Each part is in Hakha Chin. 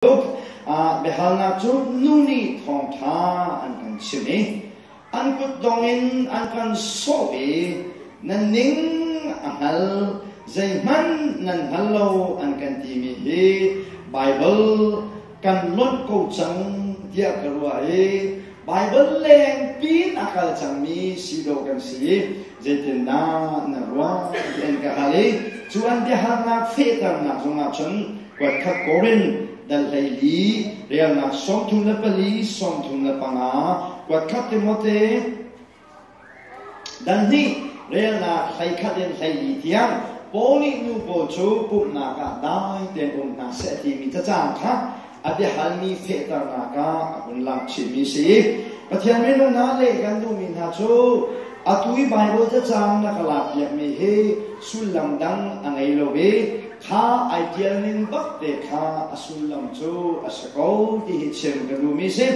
Biahalnak cu nu nih thawngṭha an kan chimh i an kutdong in an kan sawh i na ning a hngal, zeihmanh nan hngal lo an kan timi hi Baibal kan lonh ko cang tiah ka ruah i Baibal lengpin a kal cangmi si lo kan si. Zeitindah na ruah? ti an ka hal i cu an biahalnak fehternak zongah cun kuatkhat Korin dal hleili relnak sawmthum le pali sawmthum le panga kuatkhat Timote dan hnih relnak hleikhat in hleili tiang Paul nih nu pawl cu pumhnak ah dai tein um hna seh timi cacang kha A biahalmi fehternak ah a hun lang chihmi si. Pathian minung hna le kan duhmi hna cu atu i Baibal cacang na ka lakpiakmi hi sullam dang a ngei lo i kha ai ṭial ning bakte kha a sullam cu a si ko ti hi chim ka duhmi si.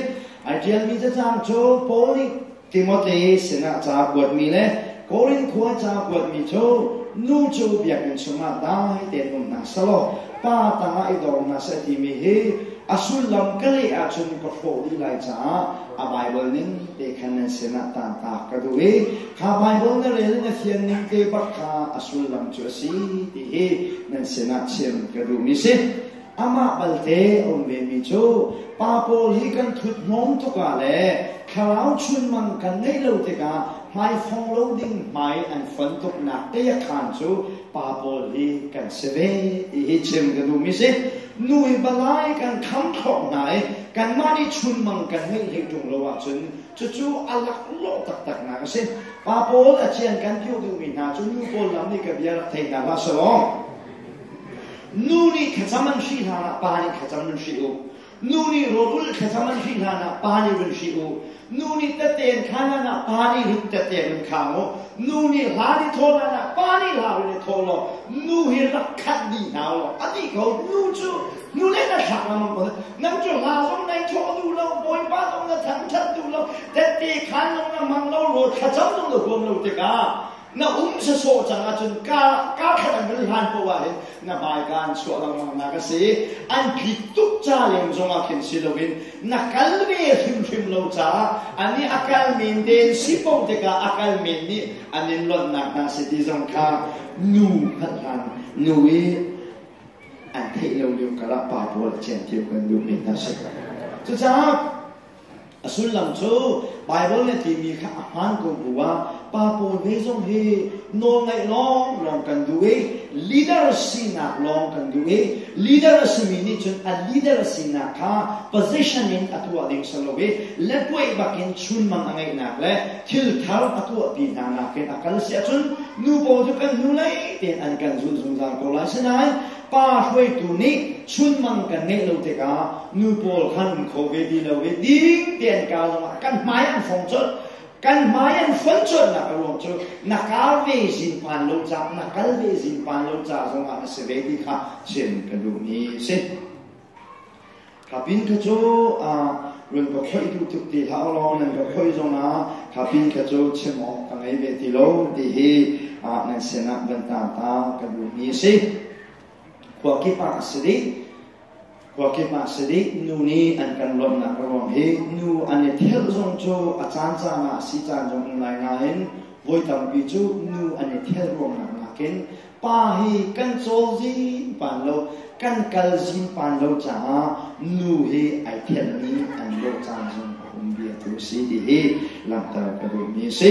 Ai ṭialmi cacang cu Paul nih Timote sinah ca kuatmi le Korin khua ca kuatmi cu nu cu biakinn chungah dai tein um hna selaw pa tangah i dor hna seh timi hi a sullam ka leh ahcun ka hrawh dih lai caah a Baibal ning te khan nan sinah tanta ka duh i kha Baibal na rel na fian ning te bak kha a sullam cu a si ti hi nan sinah chim ka duhmi si. Amah balte a um vemi cu pa pawl hi kan ṭhuthmawm tukah le thlarau chunmang kan ngeih lo tikah hmaifong lo ding hmai an fon tuknak teakhaan cu pa pawl hi kan si ve ti hi chim ka duh mi si. Nu i balai kan kham khawh hna i kanmah nih chunmang kan ngeih hlei ṭung lo ahcun cucu a laklawh taktaknak a si. Pa pawl a cian kan ti duhmi hna cu nu pawl lam nih ka bia rak thei hna hlah selaw. Nu nih thlacam an hrih hlanah pa nih thlacam nan hrih u. Nu nih rawrul thlacam an hrih hlanah pa nih run hrih u. Nu nih taten khan hlanah pa nih rit taten run khang u. Nu nih hla nih thawl hlanah pa nih hla rin i thawl law nu hi rak khat dih hna u law a ti ko. Nu cu nu le na thlak lengmang ko. Nan cu hla zong nei thawh duh lo, bawipa zong na thangthat duh lo, tatte khan zong na mang lo, rawl thlacam zong na huam lo tikah na um se sawh cang ahcun ka ka khat an ril hlan ko ah hin na baiga an chuah lengmang nak a si an phit tuk ca leng zongah khin si loin na kal ve hrimhrim lo caah ani a kal men den si po tikah a kal men nih an in lonnak hna si ti zong kha nu hlat hlan nu i an theih lo lio karah pa pawl cen tiu kan duh men hna si cucaah A sullam cu Baibal nih timi kha a hmaan ko bu ah pa pawl he zong hi nawlngaih lawng lawng kan duh i leader sinak lawng kan duh i leader a simi nih cun a leader sinak kha position in a tuah ding si lo i letwei bakin chunmang a ngeihnak le thilthar a tuahpi hna nakin a kal si ahcun nu pawl cu kan hnulei tein an kan zulh zungzal ko lai sinain Pa hruaitu nih chunmang kan ngeih lo tikah nu pawl khan kho ve ti lo ve ding tein ka zongah kan hmai an fong colh kan hmai an fon colhnak a ruang cu na ka ve zin pan lo ca na kal ve zin pan lo ca zongah na si ve ti kha chim ka duhmi a si Kha pin kha cu run ka khoih duh tuk ti hlah u law nan ka khoih zong ah kha pin kha cu chim awk ka ngei ve ti lo ti hi nan sinah van ta ta ka duhmi a si. Khua kip ah a si dih. Khua kip ah si dih nu nih an kan lawmhnak ruang hi nu an i thelh zong cu a caan caan ah si caan zong um lai nain voi tampi cu nu an i thelh ruangnak nakin Pa hi kan cawl zim pan lo, kan kal zim pan lo caah nu hi ai thianmi an lo caan zong a um vialte a si ti hi langhter ka duhmi a si.